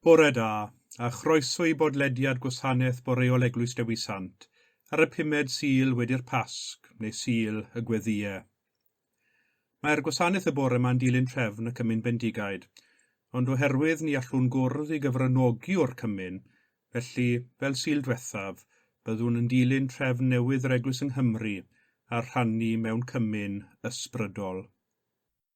Bore da, a chroeso i bodlediad Gwasanaeth Boreol Eglwys Dewi Sant ar y pumed Sul wedi'r Pasg, neu Sul y Gweddïe. Mae'r gwasanaeth y bore ma'n dilyn trefn y Cymun Bendigaid, ond oherwydd ni allwn gwrdd i gyfranogi o'r Cymun, felly, fel Sul dwethaf, byddwn yn dilyn trefn newydd yr Eglwys yng Nghymru a rhannu mewn Cymun ysbrydol.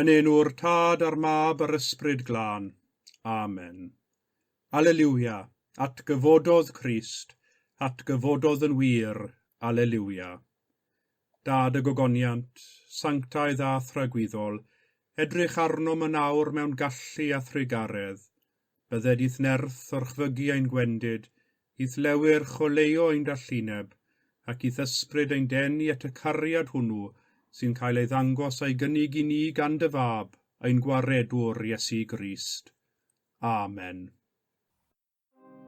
Yn enw'r Tad a'r Mab a'r Ysbryd Glân. Amen. Aleliwia, atgyfododd Crist, atgyfododd yn wir, Aleliwia. Dad y gogoniant, sanctaidd a thragwyddol, edrych arnom yn awr mewn gallu a thrugaredd, Bydded i'th nerth orchfygu ein gwendid, i'th lewyr choleuo ein dallineb, ac i'th ysbryd ein denu at y cariad hwnnw sy'n cael ei ddangos a'i gynnig i ni gan dy Fab, ein Gwaredwr, Iesu Grist. Amen.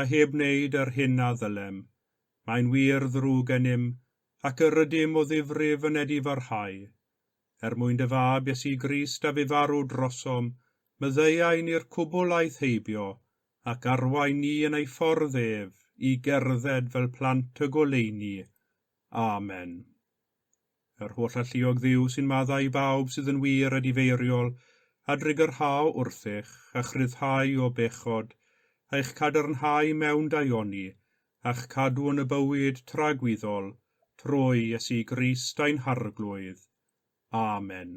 a heb wneud yr hyn a ddylem. Mae'n wir ddrwg gennym, ac yr ydym o ddifrif yn edifarhau. Er mwyn dy Fab, Iesu Grist, a fu farw drosom, myddeuai ni'r cwbl aeth heibio, ac arwain ni yn ei ffordd ef, i gerdded fel plant y goleuni. Amen. Yr holl alluog Dduw sy'n maddau i bawb sydd yn wir a difeiriol, a drigyrhao wrthych, a'ch rhyddhau o bechod, a'ch cadarnhau mewn daioni, a'ch cadw yn y bywyd tragwyddol, trwy Iesu Grist ein Harglwydd. Amen.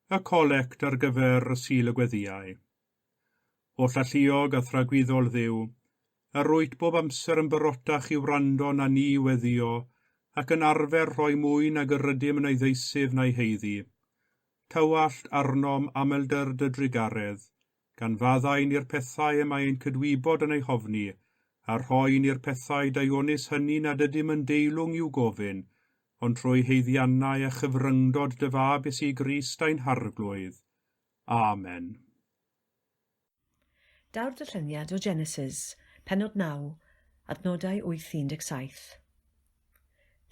y colect ar gyfer y Sul y Gweddïau. Oll alluog a thragwyddol Dduw, a rwyt bob amser yn barotach i wrando na ni i weddïo ac yn arfer rhoi mwy nag yr ydym yn ei ddeisyf na'i haeddu, tywallt arnom amlder dy drugaredd, gan faddau ni'r pethau y mae ein cydwybod yn eu hofni, a rhoi ni'r pethau daionus hynny nad ydym yn deilwng i'w gofyn, ond trwy haeddiannau a chyfryngdod dy Fab Iesu Grist ein Harglwydd. Amen. Daw'r dyllyniad o Genesis, pennod 9, adnodau 8 i 17.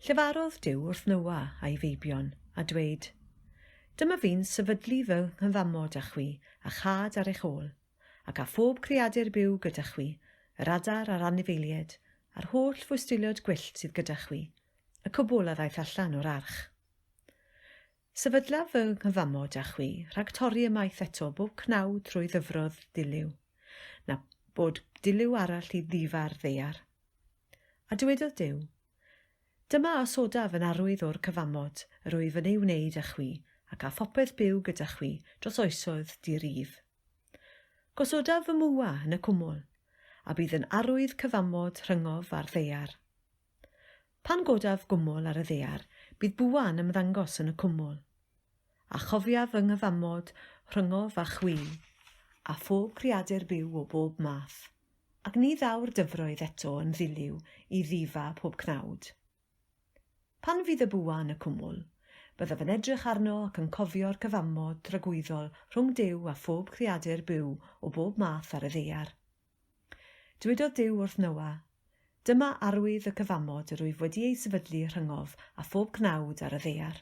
Llefarodd Duw wrth Noa a'i feibion, a dweud, Dyma fi'n sefydlu fy nghyfamod â chwi a chad ar eich ôl, ac â phob creadur byw gyda chwi, yr adar a'r anifeilied, a'r holl fwystiliod gwyllt sydd gyda chwi, y cwbl a ddaeth allan o'r arch. Sefydlaf fy nghyfamod â chwi rhag torri ymaith eto bob cnau trwy ddyfrodd dilyw, na bod dilyw arall i ddifa'r ddaear. A dywedodd Duw, Dyma a osodaf yn arwydd o'r cyfamod yr wyf yn ei wneud â chwi ac â phopeth byw gyda chwi dros oesoedd di-rif. Gosodaf fy mwa yn y cwmwl, a bydd yn arwydd cyfamod rhyngof a'r ddaear. Pan godaf gwmwl ar y ddaear, bydd bwa yn ymddangos yn y cwmwl. A chofiaf fy nghyfamod rhyngof â chwi, a phob creadur byw o bob math, ac ni ddaw'r dyfroedd eto yn ddiliw i ddifa pob cnawd. Pan fydd y bwa yn y cwmwl, byddaf yn edrych arno ac yn cofio'r cyfamod dragwyddol rhwng Duw a phob creadur byw o bob math ar y ddaear. Dywedod Duw wrth Noa, Dyma arwydd y cyfamod yr wyf wedi ei sefydlu rhyngof a phob cnawd ar y ddaear.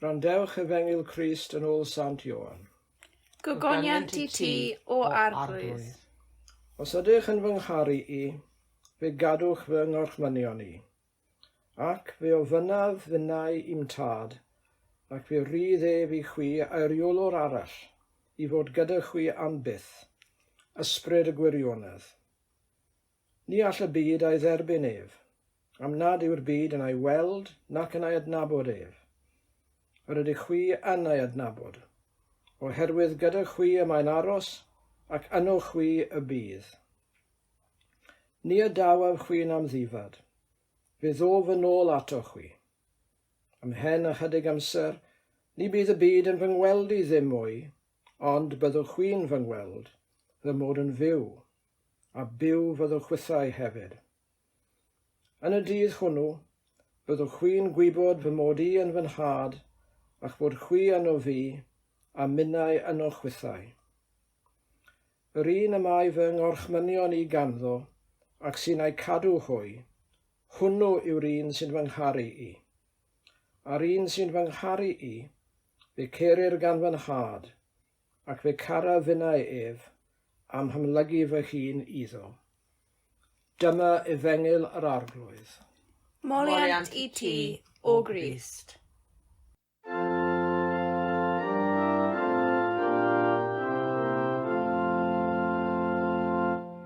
Gwrandewch Efengyl Crist yn ôl Sant Ioan. Gogoniant i ti, o Arglwydd. Os ydych yn fy ngharu i, fe gadwch fy ngorchmynion i. Ac fe ofynnaf fy nau i'm tad, ac fe rydd ef i chwi aeriolwr arall, i fod gyda chwi am byth, ysbryd y gwirionedd. Ni all y byd a'i dderbyn ef, am nad yw'r byd yn a'i weld nac yn a'i adnabod ef. Yr ydych chwi yn a'i adnabod, oherwydd gyda chwi y mae'n aros, ac yno chwi y bydd. Ni a dawaf chwi'n amddifad, fe ddof yn ôl ato chwi. Ymhen ychydig amser, ni bydd y byd yn fy ngweld i ddim mwy, ond byddwch chwi'n fy ngweld, fy mod yn fyw, a byw fy ddylchwithau hefyd. Yn y dydd hwnnw, byddwch chwi'n gwybod fy mod i yn fy nhad, a'ch bod chwi yno fi, a minnau yno'ch chwithau. Yr un y mae fy ngorchmynion i ganddo, ac sy'n a'i cadw hwy, hwnnw yw'r un sy'n fy ngharu i. A'r un sy'n fy ngharu i, fe cerir gan fy nhad, Ac fe cara finnau ef, a'm hamlygu fy hun iddo. Dyma efengyl yr Arglwydd. Moliant i ti, O Grist.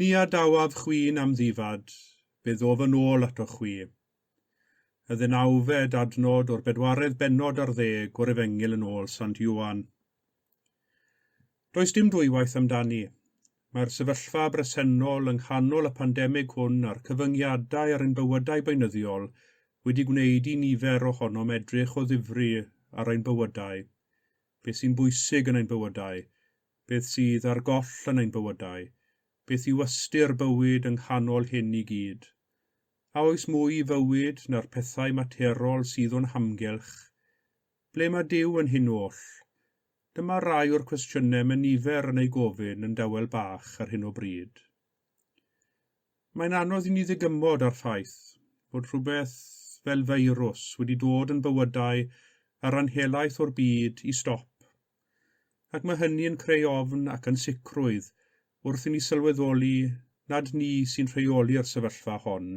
Ni adawaf chwi'n amddifad, fe ddof yn ôl atoch chwi. Y ddeunawfed adnod o'r bedwaredd bennod ar ddeg o'r Efengyl yn ôl Sant Ioan. Does dim dwywaith amdani, mae'r sefyllfa bresennol yng nghanol y pandemig hwn a'r cyfyngiadau ar ein bywydau beunyddiol wedi gwneud i nifer ohonom edrych o ddifri ar ein bywydau, beth sy'n bwysig yn ein bywydau, beth sydd ar goll yn ein bywydau, beth yw ystyr bywyd yng nghanol hyn i gyd. A oes mwy i fywyd na'r pethau materol sydd o'n hamgylch? Ble mae Duw yn hyn oll? Dyma rai o'r cwestiynau mae nifer yn eu gofyn yn dawel bach ar hyn o bryd. Mae'n anodd i ni ddygymod â'r ffaith bod rhywbeth fel feirws wedi dod yn bywydau ar ran helaeth o'r byd i stop, ac mae hynny yn creu ofn ac ansicrwydd wrth i ni sylweddoli nad ni sy'n rheoli'r sefyllfa hon,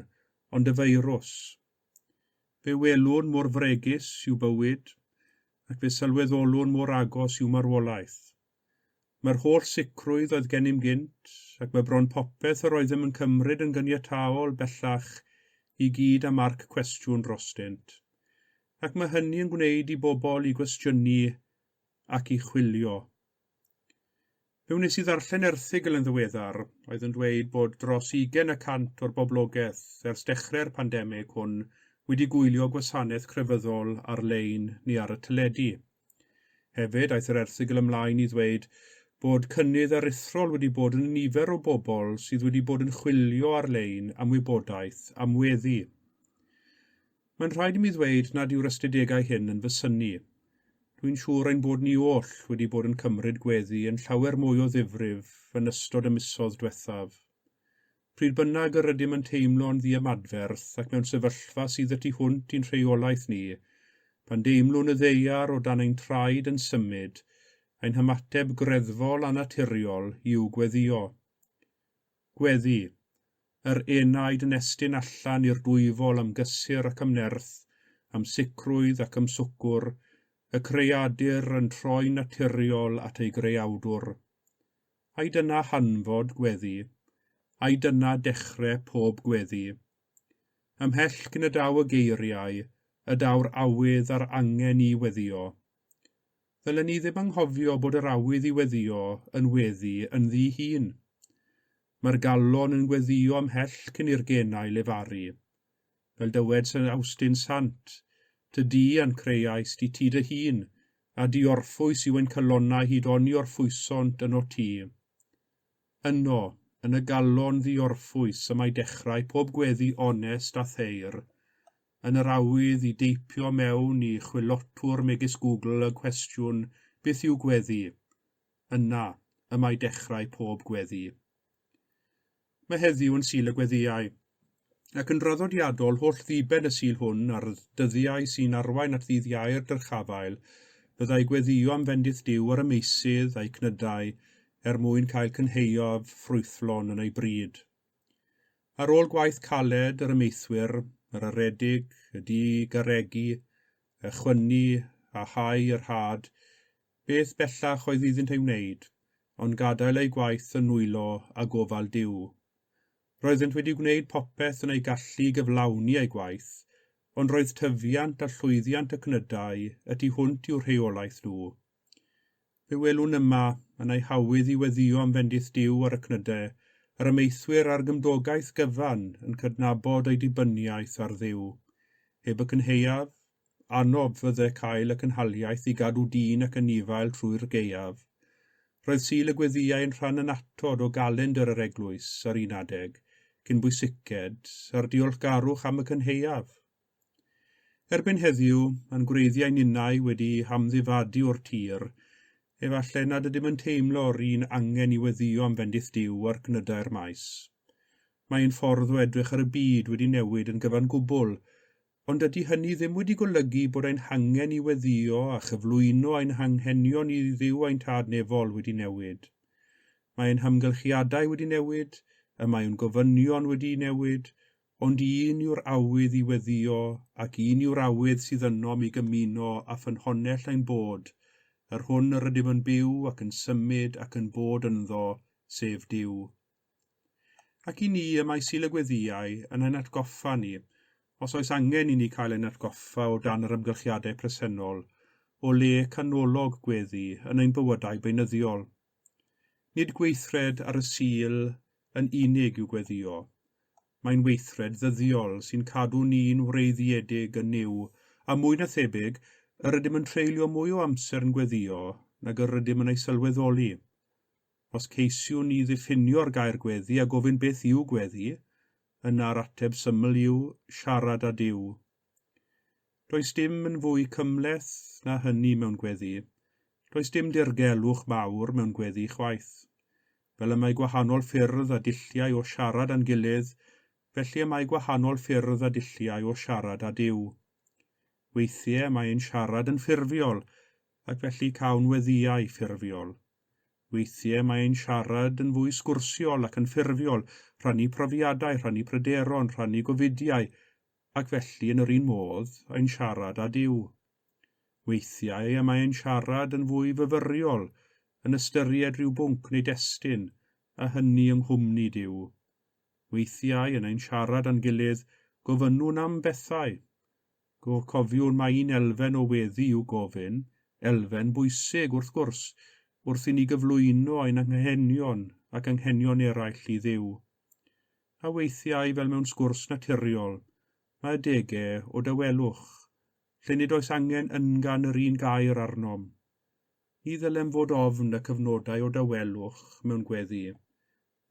ond y feirws. Fe welwn mor fregus yw bywyd, ac fe sylweddolwn mor agos yw marwolaeth. Mae'r holl sicrwydd oedd gennym gynt, ac mae bron popeth yr oeddem yn cymryd yn gyniataol bellach i gyd â marc cwestiwn drostynt. Ac mae hynny yn gwneud i bobl i gwestiynu ac i chwilio. Fe wnes i ddarllen erthygl yn ddiweddar oedd yn dweud bod dros ugain y cant o'r boblogaeth ers dechrau'r pandemig hwn wedi gwylio gwasanaeth crefyddol ar-lein neu ar y teledu. Hefyd, aeth yr erthygl ymlaen i ddweud bod cynnydd aruthrol wedi bod yn y nifer o bobl sydd wedi bod yn chwilio ar-lein am wybodaeth am weddi. Mae'n rhaid i mi ddweud nad yw'r ystadegau hyn yn fy synnu. Dwi'n siŵr ein bod ni oll wedi bod yn cymryd gweddi yn llawer mwy o ddifrif yn ystod y misoedd dwethaf. Pryd bynnag yr ydym yn teimlo'n ddiymadferth ac mewn sefyllfa sydd y tu hwnt i'n rheolaeth ni, pan deimlwn y ddaear o dan ein traed yn symud, ein hymateb greddfol a naturiol yw gweddïo. Gweddi. Yr enaid yn estyn allan i'r dwyfol am gysur ac am nerth, am sicrwydd ac am swgwr, y creadur yn troi'n naturiol at ei greawdwr. Ai dyna hanfod gweddi? Ai dyna dechre pob gweddi? Ymhell cyn y daw y geiriau y daw'r awydd a'r angen i weddio. Ddylen ni ddim anghofio bod yr awydd i weddio yn weddi ynddi'i hun. Mae'r galon yn gweddio ymhell cyn i'r genau lefaru. Fel dywed Sir Awstin Sant, Ty di a'n creuais di ti dy hun, a diorffwys yw ein calonnau hyd oni orffwysont yno ti. Yno, yn y galon ddiorffwys y mae dechrau pob gweddi onest a their. Yn yr awydd i deipio mewn i chwilotwr megis Google y cwestiwn 'Beth yw gweddi? yna y mae dechrau pob gweddi. Mae heddiw yn Sul y Gweddïau, ac yn draddodiadol holl ddiben y Sul hwn a'r dyddiau sy'n arwain at ddydd Iau'r dyrchafael, byddai gweddïo am fendith Duw ar y meysydd a'i cnydau er mwyn cael cynhaeaf ffrwythlon yn ei bryd. Ar ôl gwaith caled yr ymeithwyr, yr aredig, y di garregi, y chwynnu a hau yr had, Beth bellach oedd iddynt ei wneud, ond gadael eu gwaith yn nwylo â gofal Duw? Roeddent wedi gwneud popeth yn eu gallu i gyflawni eu gwaith, ond roedd tyfiant a llwyddiant y cnydau y tu hwnt i'w rheolaeth nhw. Fe welwn yma, yn eu hawydd i weddïo am fendith Duw ar y cnydau, yr amaethwyr â'r gymdogaeth gyfan yn cydnabod eu dibyniaeth ar Dduw. Heb y cynhaeaf, Annob fydde cael y cynhaliaeth i gadw dyn ac anifail trwy'r gaeaf. Roedd Sul y Gweddïau yn rhan annatod o galendr yr eglwys ar un adeg, cyn bwysiced, a'r diolchgarwch am y cynhaeaf. Erbyn heddiw, mae'n gwreiddiau ninnau wedi hamddifadu o'r tir, efallai nad ydym yn teimlo'r un angen i weddïo am fendith Duw ar gnydau'r maes. Mae ein ffordd o edrych ar y byd wedi newid yn gyfan gwbl Ond dydy hynny ddim wedi golygu bod ein hangen i weddïo a chyflwyno ein hanghenion i Dduw a'n Tad Nefol wedi newid. Mae ein hamgylchiadau wedi newid, y mae o'n gofynion wedi newid, ond un yw'r awydd i weddïo ac un yw'r awydd sydd ynom i gymuno â ffynhonnell ein bod, yr hwn yr ydym yn byw ac yn symud ac yn bod ynddo, sef Duw. Ac i ni, y mae Sul y Gweddïau yn ein atgoffa ni, os oes angen i ni cael ein atgoffa o dan yr ymgyrchiadau presennol, o le canolog gweddi yn ein bywydau beunyddiol. Nid gweithred ar y Sul yn unig yw gweddïo. Mae'n weithred ddyddiol sy'n cadw ni'n wreiddiedig yn Nuw, a mwy na thebyg, yr ydym yn treulio mwy o amser yn gweddïo nag yr ydym yn ei sylweddoli. Os ceisiwn ni ddiffinio'r gair gweddu a gofyn beth yw gweddu, yna'r ateb syml yw siarad â Duw. Does dim yn fwy cymhleth na hynny mewn gweddu. Does dim dirgelwch mawr mewn gweddu chwaith. Fel y mae gwahanol ffyrdd a dulliau o siarad â'n gilydd, felly y mae gwahanol ffyrdd a dulliau o siarad â Duw. Weithiau mae ein siarad yn ffurfiol, ac felly cawn weddïau ffurfiol. Weithiau mae ein siarad yn fwy sgwrsiol ac yn ffurfiol, rhannu profiadau, rhannu pryderon, rhannu gofidiau, ac felly yn yr un modd, ein siarad â Duw. Weithiau y mae ein siarad yn fwy fyfyriol, yn ystyried rhyw bwnc neu destun, a hynny yng nghwmni Duw. Weithiau, yn ein siarad â'n gilydd, gofynnwn am bethau. Go cofiwn mai un elfen o weddi yw gofyn, elfen bwysig, wrth gwrs, wrth i ni gyflwyno ein anghenion ac anghenion eraill i Dduw. A weithiau, fel mewn sgwrs naturiol, mae adegau o dawelwch, lle nid oes angen yngan yr un gair arnom. Ni ddylem fod ofn y cyfnodau o dawelwch mewn gweddi,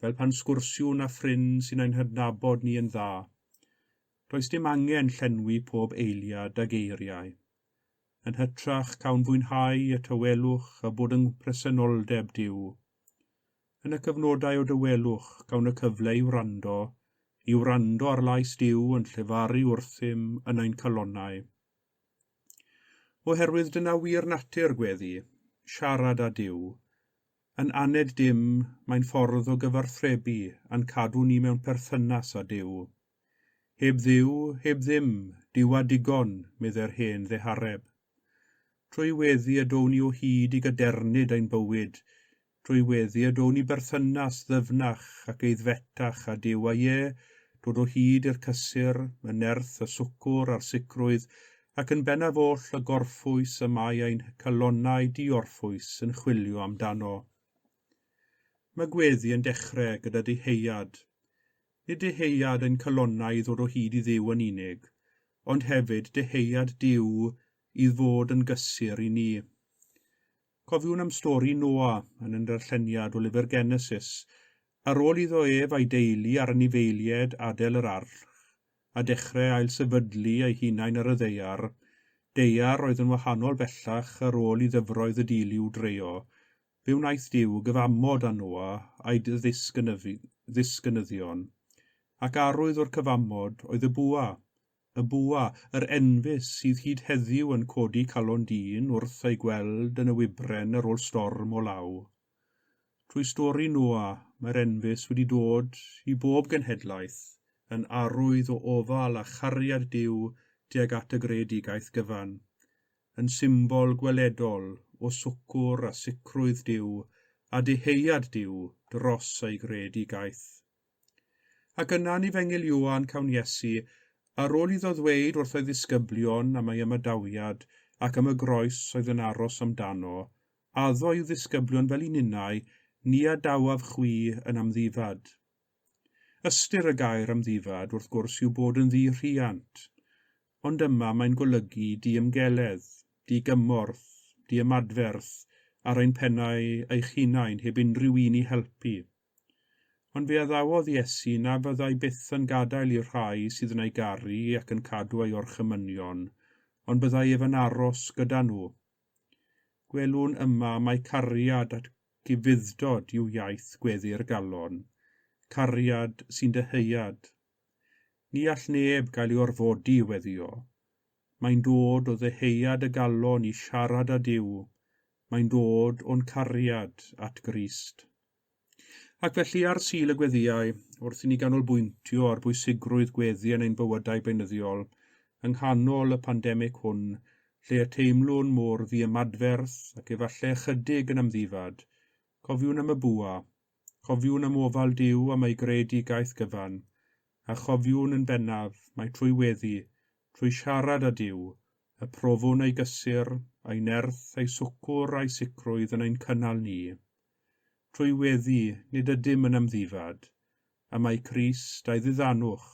fel pan sgwrsiwn â ffrind sy'n ein hadnabod ni yn dda. Does dim angen llenwi pob eiliad â geiriau. Yn hytrach, cawn fwynhau y tawelwch a bod yng nghpresenoldeb Duw. Yn y cyfnodau o dawelwch, cawn y cyfle i wrando, i wrando ar lais Duw yn llefaru wrthym yn ein calonnau. Oherwydd dyna wir natur gweddi, siarad â Duw. Yn aned dim, mae'n ffordd o gyfarthrebu a'n cadw ni mewn perthynas â Duw. Heb Dduw, heb ddim, Duw a digon, meddai'r hen ddehareb. Trwy weddi y down ni o hyd i gadernid ein bywyd, trwy weddi y down ni berthynas ddyfnach ac eiddfetach â Duw a ie, dod o hyd i'r cysur, y nerth, y swcwr a'r sicrwydd ac yn bennaf oll y gorffwys y mae ein calonnau diorffwys yn chwilio amdano. Mae gweddi yn dechrau gyda dyheuad. Nid dyheuad ein calonnau i ddod o hyd i Dduw yn unig, ond hefyd dyheuad Duw i fod yn gysur i ni. Cofiwn am stori Noa yn y ndarlleniad o lyfr Genesis, ar ôl iddo ef a'i deulu a'r anifeilied adael yr arch, a dechrau ailsefydlu eu hunain ar y ddaear, daear oedd yn wahanol bellach ar ôl i ddyfroedd y dilyw dreio, fe wnaeth Duw gyfamod â Noa a'i ddisgynyddion. Ac arwydd o'r cyfamod oedd y bwa, y bwa, yr enfys sydd hyd heddiw yn codi calon dyn wrth ei gweld yn y wybren ar ôl storm o law. Trwy stori Noa, mae'r enfys wedi dod i bob genhedlaeth yn arwydd o ofal a chariad Duw tuag at y greadigaeth gyfan, yn symbol gweledol o swcwr a sicrwydd Duw a dyheuad Duw dros ei greadigaeth. Ac yna'n Efengyl Ioan cawn Iesu, ar ol iddo ddweyd wrth o'i ddisgyblion am ei ymadawiad ac am y groes oedd yn aros amdano, addo i'w ddisgyblion fel i ninnau, Ni adawaf chwi yn amddifad. Ystyr y gair amddifad, wrth gwrs, yw bod yn ddu rhiant. Ond yma mae'n golygu diymgeledd, digymorth, diymadferth ar ein pennau eich hunain heb unrhyw un i helpu. Ond fe addawodd Iesu na fyddai byth yn gadael i'r rhai sydd yn ei garu ac yn cadw ei orchymynion, ond byddai ef yn aros gyda nhw. Gwelwn yma mai cariad at gyfuddod yw iaith gweddu'r galon, cariad sy'n dyheuad. Ni all neb gael ei orfodi i weddio. Mae'n dod o ddyheuad y galon i siarad â Duw, mae'n dod o'n cariad at Grist. Ac felly, ar Sul y Gweddïau, wrth i ni ganolbwyntio ar bwysigrwydd gweddi yn ein bywydau beunyddiol, yng nghanol y pandemig hwn, lle y teimlwn mor ddiymadferth ac efallai ychydig yn amddifad, cofiwn am y bwa, cofiwn am ofal Duw am ei greadigaeth gyfan, a chofiwn yn bennaf mai trwy weddi, trwy siarad â Duw, y profwn ei gysur, ei nerth, ei swcwr a'i sicrwydd yn ein cynnal ni. Trwy weddi, nid ydym yn amddifad, a mae Crist, a'i ddiddanwch,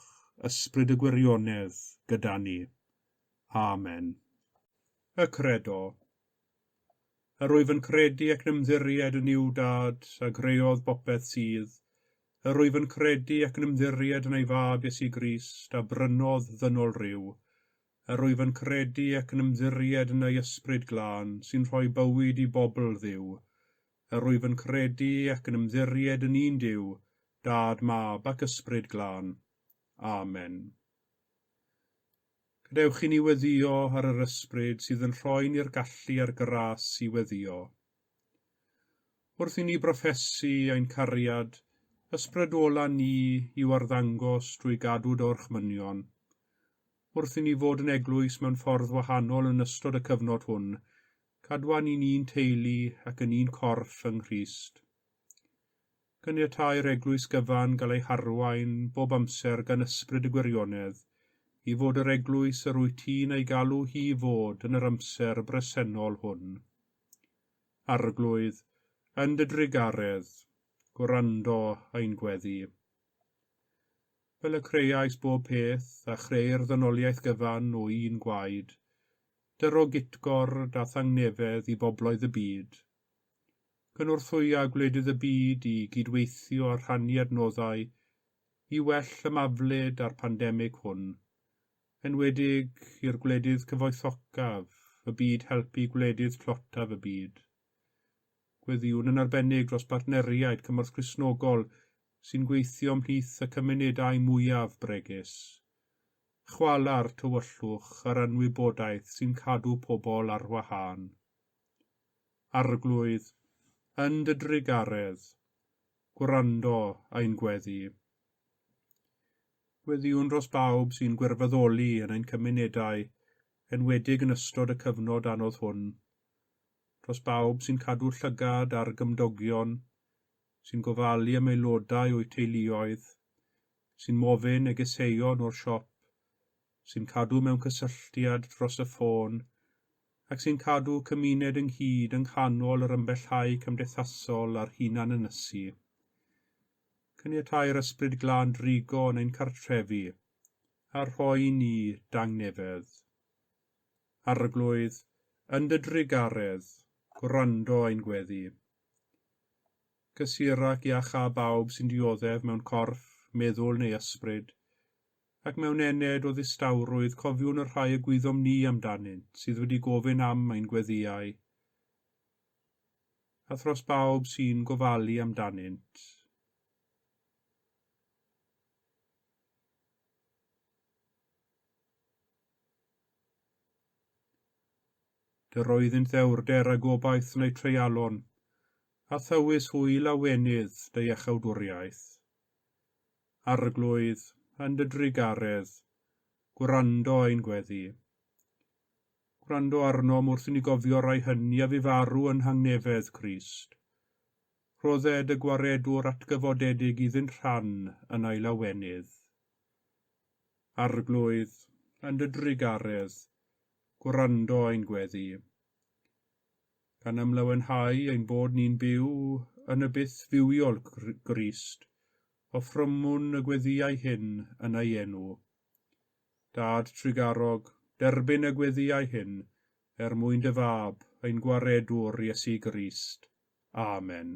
ysbryd y gwirionedd, gyda ni. Amen. Y Credo. Yr wyf yn credu ac yn ymddiried yn Nuw Dad, a greodd bopeth sydd. Yr wyf yn credu ac yn ymddiried yn ei Fab Iesu Grist, a brynodd ddynol ryw. Yr wyf yn credu ac yn ymddiried yn ei Ysbryd Glân sy'n rhoi bywyd i bobl Dduw. Yr wyf yn credu ac yn ymddiried yn un Duw, Dad, Mab, ac Ysbryd Glân. Amen. Gadewch i ni weddio ar yr Ysbryd sydd yn rhoi ni'r gallu a'r gras i weddio. Wrth i ni brofesu ein cariad, ysbrydwola ni i'w arddangos drwy gadw dorchmynion. Wrth i ni fod yn eglwys mewn ffordd wahanol yn ystod y cyfnod hwn, cadwa ni'n un teulu ac yn un corff yng Nghrist. Caniatâi'r eglwys gyfan gael ei harwain bob amser gan ysbryd y gwirionedd, i fod yr eglwys yr wyt ti'n ei galw hi i fod yn yr amser bresennol hwn. Arglwydd, yn dy drugaredd, gwrando ein gweddi. Fel y creais bob peth, a chreu'r ddynoliaeth gyfan o un gwaed, dy ro gitgord a thangnefedd i bobloedd y byd. Cynorthwya gwledydd y byd i gydweithio a rhannu adnoddau i well ymaflyd â'r pandemig hwn, enwedig i'r gwledydd cyfoethocaf y byd helpu gwledydd tlotaf y byd. Gweddïwn yn arbennig dros bartneriaid cymorth Cristnogol sy'n gweithio ymhlith y cymunedau mwyaf bregus. Chwala'r tywyllwch a'r anwybodaeth sy'n cadw pobl ar wahân. Arglwydd, yn dy drugaredd, gwrando ein gweddi. Gweddïwn dros bawb sy'n gwirfoddoli yn ein cymunedau, enwedig yn ystod y cyfnod anodd hwn. dros bawb sy'n cadw llygad ar gymdogion, sy'n gofalu am aelodau o'u teuluoedd, sy'n mofyn negeseuon o'r siop, sy'n cadw mewn cysylltiad dros y ffôn, ac sy'n cadw cymuned ynghyd yng nghanol yr ymbellhau cymdeithasol a'r hunan-ynysu. Caniatai'r Ysbryd Glân drigo yn ein cartrefi, a rhoi i ni dangnefedd. Arglwydd, yn dy drugaredd, gwrando ein gweddi. Cysur ac iach â bawb sy'n dioddef mewn corff, meddwl neu ysbryd, ac mewn ened o ddistawrwydd cofiwn y rhai y gwyddom ni amdanynt sydd wedi gofyn am ein gweddïau, a thros bawb sy'n gofalu amdanynt. Yr oeddynt ddewrder a gobaith neu treialon, a thywys hwyl a wenydd dy iachawdwriaeth. Arglwydd, yn dy drugaredd, gwrando ein gweddi. Gwrando arnom wrth i ni gofio rai hynny a fu farw yn nhangnefedd Crist. Rhodded y gwaredwr atgyfodedig iddynt rhan yn ei lawenydd. Arglwydd, yn dy drugaredd, gwrando ein gweddi, gan ymlawenhau ein bod ni'n byw yn y byth fywiol Grist, offrymwn y gweddiau hyn yn ei enw. Dad trugarog, derbyn y gweddiau hyn er mwyn dy Fab, ein Gwaredwr, Iesu Grist. Amen.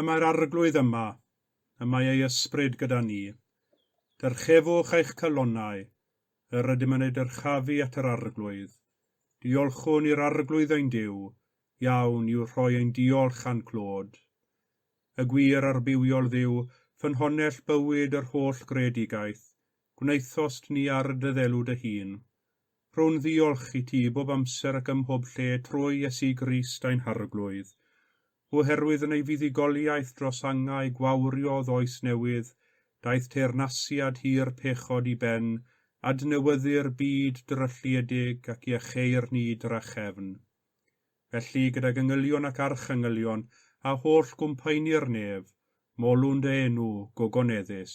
Y mae'r Arglwydd yma, y mae ei ysbryd gyda ni. Dyrchefwch eich calonnau, yr ydym yn eu dyrchafu at yr Arglwydd. Diolchwn i'r Arglwydd ein Duw, iawn yw rhoi ein diolch a'n clod. Y gwir a'r bywiol Dduw, ffynhonnell bywyd yr holl greadigaeth, gwnaethost ni ar dy ddelw dy hun, Rhow'n ddiolch i ti bob amser ac ymhob lle trwy Iesu Grist ein Harglwydd. Oherwydd yn ei fuddugoliaeth dros angau gwawriodd oes newydd, daeth teyrnasiad hir pechod i ben, adnewyddu'r byd drylliedig ac iacheu'r ni drachefn. Felly, gydag engylion ac archengylion, a holl gwmpaini'r nef, molwn dy enw, gogoneddus.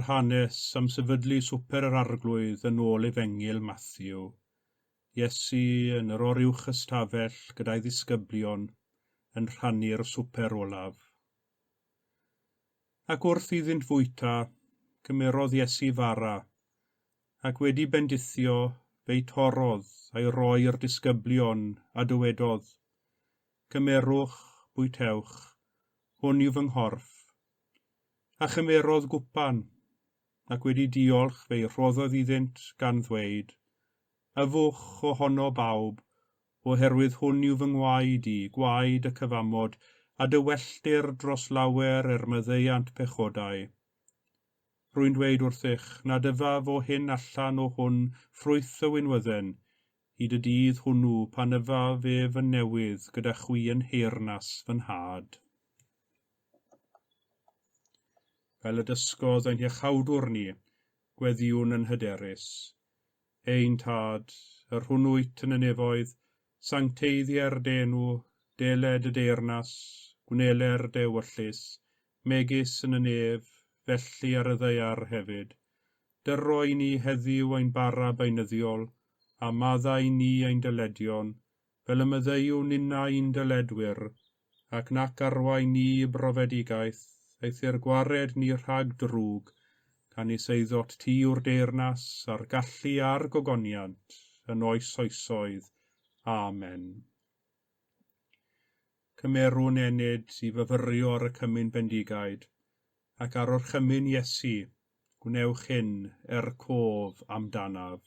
yr hanes am sefydlu Swper yr Arglwydd yn ôl Efengyl Matthew. Iesu yn yr oruwch ystafell gyda'i ddisgyblion yn rhannu'r swper olaf. Ac wrth iddynt fwyta, cymerodd Iesu fara, ac wedi bendithio, fe'i torrodd, a'i roi i'r disgyblion, a dywedodd, Cymerwch, bwytewch, hwn yw fy nghorff. A chymerodd gwpan, ac wedi diolch, fe'i rhoddodd iddynt, gan ddweud, Yfwch o honno bawb, oherwydd hwn yw fy ngwaed i, gwaed y cyfamod, a dy welltir dros lawer er maddeuant pechodau. Rwy'n dweud wrthych, nad yfaf o hyn allan o hwn ffrwyth y winwydden, hyd y dydd hwnnw pan yfaf ef yn newydd gyda chwi yn nheyrnas fy nhad. Fel y dysgodd ein hiachawdwr ni, gweddïwn yn hyderus. ein Tad, yr hwn wyt yn y nefoedd, sancteiddier d'enw, deled y deyrnas, gwneler d'ewyllys, megis yn y nef, felly ar y ddaear hefyd. Dyro i ni heddiw ein bara beunyddiol, a madda i ni ein dyledion, fel y maddeuwn inna i'n dyledwyr, ac nac arwain ni i brofedigaeth, eithr gwared ni rhag drwg, canys eiddot ti yw'r deyrnas, a'r gallu, a'r gogoniant, yn oes oesoedd. Amen. Cymerwn ennyd i fyfyrio ar y cymun bendigaid, ac ar orchymyn Iesu, gwnewch hyn er cof amdanaf.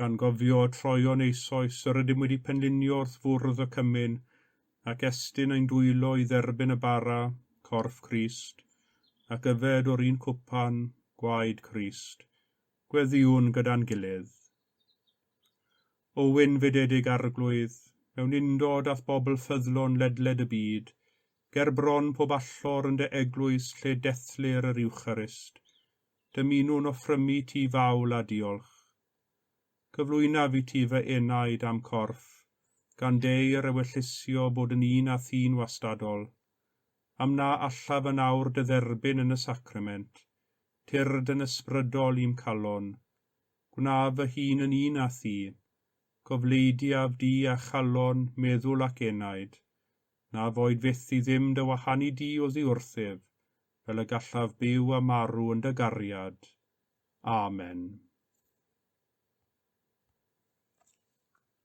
gan gofio troion eisoes yr ydym wedi penlinio wrth fwrdd y cymyn, ac estyn ein dwylo i dderbyn y bara, corff Crist, ac yfed o'r un cwpan, gwaed Crist. Gweddïwn gyda'n gilydd. O wyn fededig Arglwydd, mewn undod a'th bobl ffyddlon ledled y byd, ger bron pob allor yn dy eglwys lle dethlir yr Iwcharist, dymunwn offrymu ti fawl a diolch. Cyflwynaf i ti fy enaid a'm corff, gan deu yr ewyllysio bod yn un â thi'n wastadol, am na allaf yn awr dy dderbyn yn y sacrament, tyrd yn ysbrydol i'm calon. Gwnaf fy hun yn un â thi. Gofleidiaf di â chalon, meddwl ac enaid, na foed fyth i ddim dy wahanu di oddi wrthyf, fel y gallaf byw a marw yn dy gariad. Amen.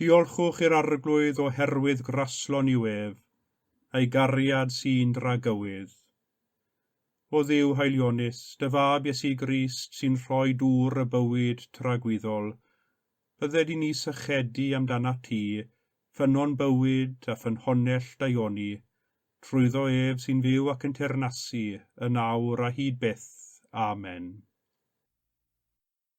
Diolchwch i'r Arglwydd oherwydd graslon yw ef, a'i gariad sy'n dragywydd. O Dduw haelionnus, dy Fab Iesu Grist sy'n rhoi dŵr y bywyd tragwyddol, bydde di ni sychedu amdanat ti, Ffynnon bywyd a ffynhonnell daioni, trwyddo ef sy'n fyw ac yn teyrnasu, yn awr a hyd byth. Amen.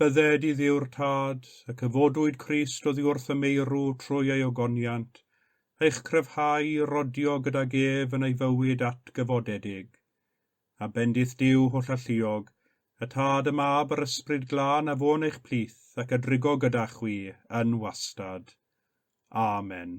Bydded i Dduw'r Tad, ac y fodwyd Crist oddi wrth y meirw trwy ei ogoniant, eich cryfhau i rodio gydag ef yn ei fywyd atgyfodedig. A bendith Duw holl alluog, y Tad, y Mab, yr Ysbryd Glân, a fo'n eich plith, ac a drigo gyda chwi, yn wastad. Amen.